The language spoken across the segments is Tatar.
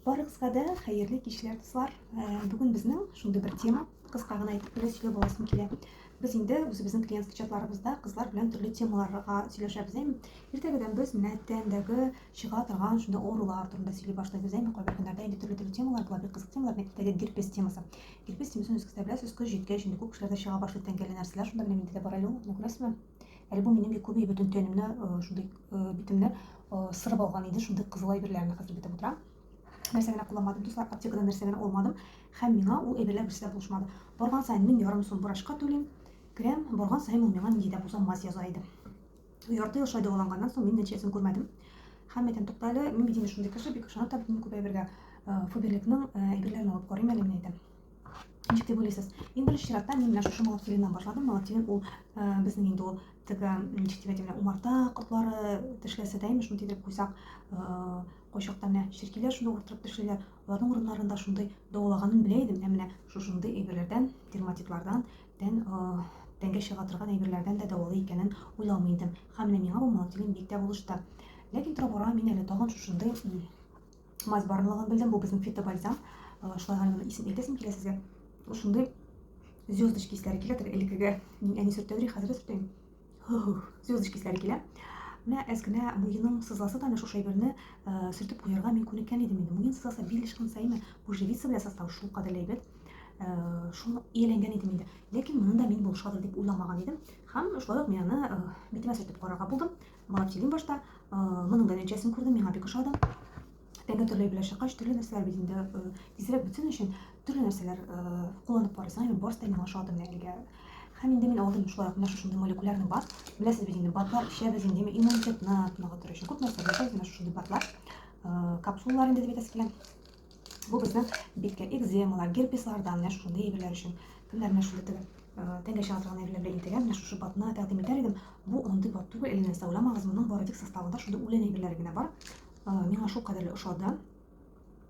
Барыгызга да хәерле кичләр, дуслар. Бүген безнең шундый бер тема, кыска гына әйтеп кенә сөйләп аласым килә. Без инде үзебезнең клиент чатларыбызда кызлар белән төрле темаларга сөйләшәбез. Әм, иртәгәдән без менә тәндәге чыга торган шундый авырулар турында сөйли башлыйбыз. Әм, кайбер көннәрдә инде төрле төрле темалар була, бик кызык темалар, менә иртәгә герпес темасы. Герпес темасын үз кесәбез, үз көч җиткән җиндә күп кешеләрдә чыга башлый тәнгәле нәрсәләр, шунда белән инде бар әле ул, күрәсезме? Әле бу минем бик күп бөтен тәнемне шундый битемне сырып алган иде, шундый кызыл әйберләрне хәзер битеп утырам. Нәрсә генә кулланмадым, дуслар, аптекадан нәрсә генә алмадым, һәм миңа ул әйберләр берсе дә булышмады. Барган саен мин ярым сум врачка түлим, керәм, барган саен ул миңа нинди дә булса мазь яза иде. Ярты ел шулай дәваланганнан соң мин нәтиҗәсен күрмәдем. Һәм әйтәм, тукта әле, мин бит инде шундый кеше, бик ышанып та бетмим күп әйбергә. Фаберликның әйберләрен алып карыйм әле, мин әйтәм. Ничек дип уйлыйсыз? Иң беренче чиратта мин менә шушы молотилиннан башладым. Молотилин ул э, безнең инде ул теге ничек дип әйтәм, умарта котлары тешләсә дә имеш, шуны тидереп куйсак, э, кайчакта менә черкиләр шуны уртырып тешлиләр. Аларның урыннарында шундый дәвалаганын белә идем, ә менә шушындый әйберләрдән, дерматитлардан, тән э, тәнгә чыга торган әйберләрдән дә дәвалый икәнен уйламый идем. Һәм менә миңа бу молотилин бик тә булышты. Ләкин тора-бара мин әле тагын шушындый Мазь барлыгын белдем, бу безнең фитобальзам. Э, шулай гына исем әйтәсем килә сезгә. Шундый звездочки исләре килә, теге элеккеге мин әни сөртәдер, хәзер сөртәм. Звездочки исләре килә. Менә әз генә муеның сызласы да шушы әйберне э, сөртеп куярга мин күнеккән идем инде. Муен сызласы бил ышкын саеме, бу живица белән состав шул кадәр әйбәт. Э, шуны ияләнгән идем инде. Ләкин моны да мин булышадыр дип уйламаган идем. Һәм шулай ук мин аны битемә сөртеп карарга булдым. Моңа килим башта. Моның да нәтиҗәсен күрдем, миңа бик ошады. Тәңге төрле белән чыккач, төрле нәрсәләр бит инде тизрәк бетсен өчен төрле нәрсәләр кулланып карыйсың. Һәм барысы да миңа ошады менә әлегә. Һәм инде мин алдым шулай менә шушындый молекулярный бат. Беләсез бит инде, батлар эчәбез инде иммунитетны ныгытыр өчен. Күп нәрсә беләсез, менә шушындый батлар, капсулалар инде дип әйтәсе килә. Бу безнең биткә экземалар, герпеслардан, менә шундый әйберләр өчен. Кемнәр менә шундый тегә, тәнгә чыга торган әйберләр белән интегә, менә шушы батны тәкъдим итәр идем. Бу андый бат түгел, әйләнә сауламагыз, моның бары тик составында шундый үлән әйберләре генә бар. Миңа шул кадәрле ошады.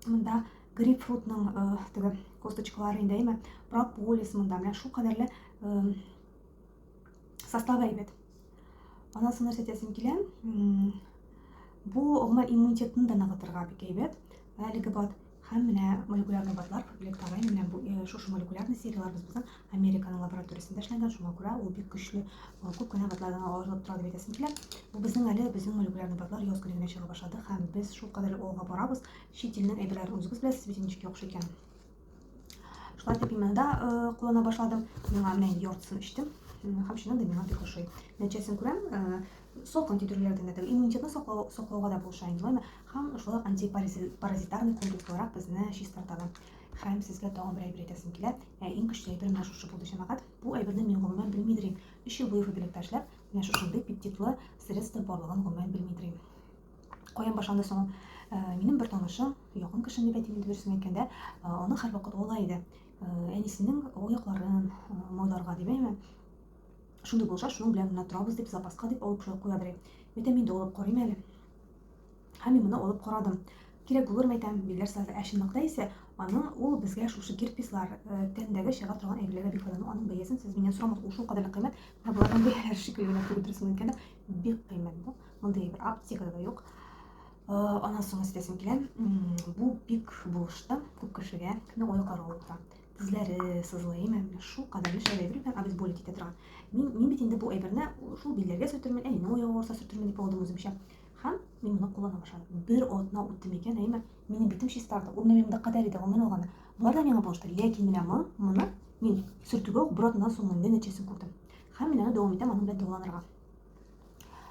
Монда грейпфрутның теге косточкалары инде әйме, прополис монда, менә шул кадәрле Составы әйбәт. Аннан соң нәрсә әйтәсем килә? Бу гомумән иммунитетны да ныгытырга бик әйбәт. Әлеге бат һәм менә молекулярный батлар Лекторайн менә бу э, шушы молекулярный сериялар без безнең Американың лабораториясендә эшләнгән, шуңа күрә ул бик көчле э, күп кенә батлардан алырлык тора дип әйтәсем килә. Бу безнең әле безнең молекулярный батлар яз көне генә чыга башлады һәм без шул кадәр алга барабыз. Чит илнең әйберләрен үзегез беләсез бит ничек яхшы икән. Шла пимена, да, э, кулана башладым. Миңа менә яртысын эчтем. Һәм чыннан да миңа бик ошый. Нәтиҗәсен күрәм, э, салкын китүләрдән генә түгел, иммунитетны саклау, саклауга да булыша инде лайма. Һәм шулай ук антипаразитарный комплекс буларак безне чистарта да. Һәм сезгә тагын бер әйбер әйтәсем килә. Ә иң көчле әйбер менә шушы булды, җәмәгать. Бу әйберне мин гомумән белми йөрим. Өч ел буе фабрикта эшләп, менә шушындый пептидлы средство барлыгын гомумән белми йөрим. Каян башланды соң? Минем бер танышым, якын кешем дип әйтим, дөресен әйткәндә, аны һәрвакыт ала иде. Әнисенең аякларын мойларга димәйме? Шундый булса, шуның белән генә торабыз дип, запаска дип алып куядыр. Витамин дә алып карыйм әле. Һәм мин моны алып карадым. Кирәк булыр мәйтәм, билгеләр сазы. Ә чынлыкта исә аның ул безгә шушы герпеслар, тәндәге чыга торган әйберләргә бик файдалы. Аның бәясен сез миннән сорамагыз, ул шул кадәрле кыйммәт. Менә болардан бәяләр шикелле генә күреп торсын икән дә, Бик кыйммәт бу. Мондый әйбер аптекада да юк. Аннан соң әйтәсем килә, бу бик булышты күп кешегә, кемне ой каравы тора. Тезләре сызлый, әйме, шул кадәр еш әйбер белән обезболить итә торган. Мин мин бит инде бу әйберне шул билләргә сөртермен, әнине ой авырса сөртермен дип алдым үземчә. Һәм мин моны куллана башладым. Бер атна үтте микән, әйме, минем битем чистарды. Ул минем дә кадәр иде, гомер алганы. Болар да миңа булышты, ләкин менә моны мин сөртүгә үк бер атнадан соң нәтиҗәсен күрдем. Һәм мин аны дәвам итәм, аның белән дәваланырга.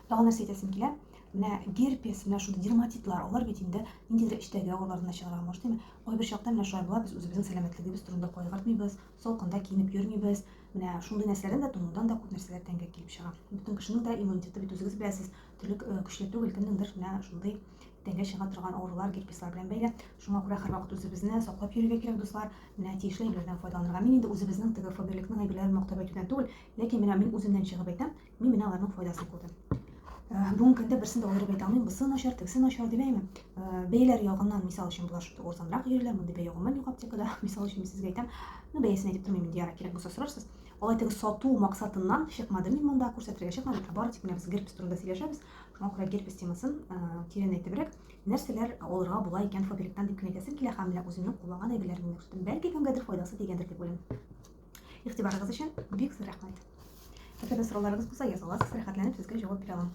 Тагын нәрсә әйтәсем килә? Менә герпес, менә шундый дерматитлар, алар бит инде ниндидер эчтәге авырлар гына чыгара алмаш, димме? Кайбер чакта менә шулай була, без үзебезнең сәламәтлегебез турында кайгыртмыйбыз, салкында киенеп йөрмибез. Менә шундый нәрсәләрдән дә, тонудан да күп нәрсәләр тәнгә килеп чыга. Бөтен кешенең дә иммунитеты бит үзегез беләсез, төрлек көчле түгел, кемнеңдер менә шундый Тәнгә чыга торган авырулар герпеслар белән бәйле. Шуңа күрә һәрвакыт үзебезне саклап йөрергә кирәк, дуслар. Менә тиешле әйберләрдән файдаланырга. Мин инде үзебезнең теге Фаберликның әйберләрен мактап әйтүдән түгел, ләкин менә мин үземнән чыгып әйтәм, мин менә аларның файдасын күрдем. Бүгенге көндә берсен дә аерып әйтә алмыйм, бусы начар, тегесе начар дип әйме. Бәяләр ягыннан, мисал өчен, булар шундый арзанрак җирләр, мондый бәя гомумән юк аптекада. Мисал өчен, мин сезгә әйтәм, ну бәясен әйтеп тормыйм инде, ярар, кирәк булса сорарсыз. Алай теге сату максатыннан чыкмадым мин монда, күрсәтергә чыкмадым, ә бары тик менә без герпес турында сөйләшәбез. Мокрый герпес темасын тирән әйтебрәк, нәрсәләр алырга була икән фабриктан дип кенә әйтәсем килә һәм менә үземнең кулланган әйберләремне күрсәтәм. Бәлки кемгәдер файдасы тигәндер дип уйлыйм. Игътибарыгыз өчен бик зур рәхмәт. Әгәр сорауларыгыз булса, язаласыз, рәхәтләнеп сезгә җавап бирә алам.